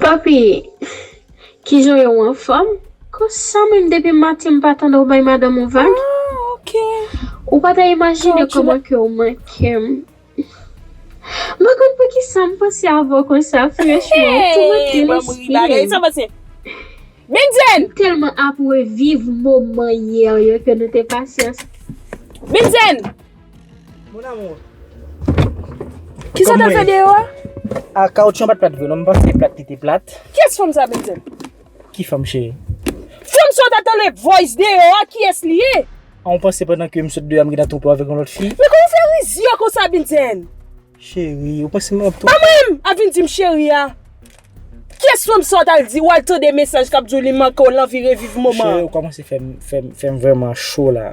Papi, kijan yo ou anfòm? Konsa menm depi maten m pa tande w bay madanm ou vag? Ou pa ta imajine kòman ke w manke m. M pa konn poukisa m panse avè w konsa franchman, ou toumante lespri m. M tèlman ap reviv moman yè yo ke nou te pase ansanm. Mon amour. Kisa ta fè deyò a? A kaoutchou an pat plat vre non, m panse plat li te plat. Kiyès fanm sa Bentèl? Ki fanm cheri? Fanm sa w ta tande voice deyò a kiyès li ye? A ou panse pandan ke m sot deyò a m gen nan twoupo avèk yon lòt fi? Men kòman w fè rizyè konsa Bentèl? Cheri, ou panse m ap twoupo? Pa mwen menm ap vin di m cheri a. Kiyès fanm sa w tal di w al tande mesaj kap di w li manke w l anvi reviv moman an? Cheri ou kòmanse fè m fè m fè m vrèman cho la.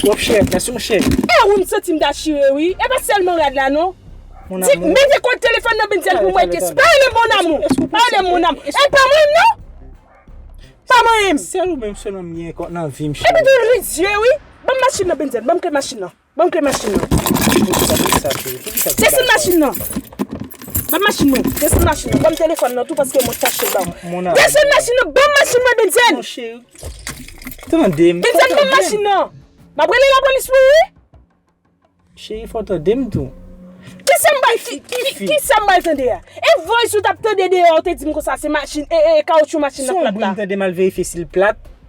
Twòp chèv nan son chèv. Eh wi m santim ta chire wi. E pa sèlman rad la non. Mon amour. Di mete kòd telefòn nan Bndye l pou mwen kiss. Pa relem mon amour. Pa relem mon amour. E pa manyen m non. Pa manyen m. Sèl ou menm sèlman m gen nan vim cheri. Epi tou ri zye wi. Banm machin nan Bndye l. Banm kle machin nan. Banm kle machin nan. Desann machin nan. Banm machin nan. Desann machin nan. Banm telefon nan tou paske mwen fache banm. Desann machin nan. Banm machin nan Benzèn. Benzèn banm machin nan. Map rele la polis pou ou wi. Cheri fò tande m tou. Kisa m bay fi? Kisa m bay tande a? E voice ou tap tande deyò ou te di m konsa se machin e e kawoutchou machin nan plat la. Son bri m tande mal verifye sil plat.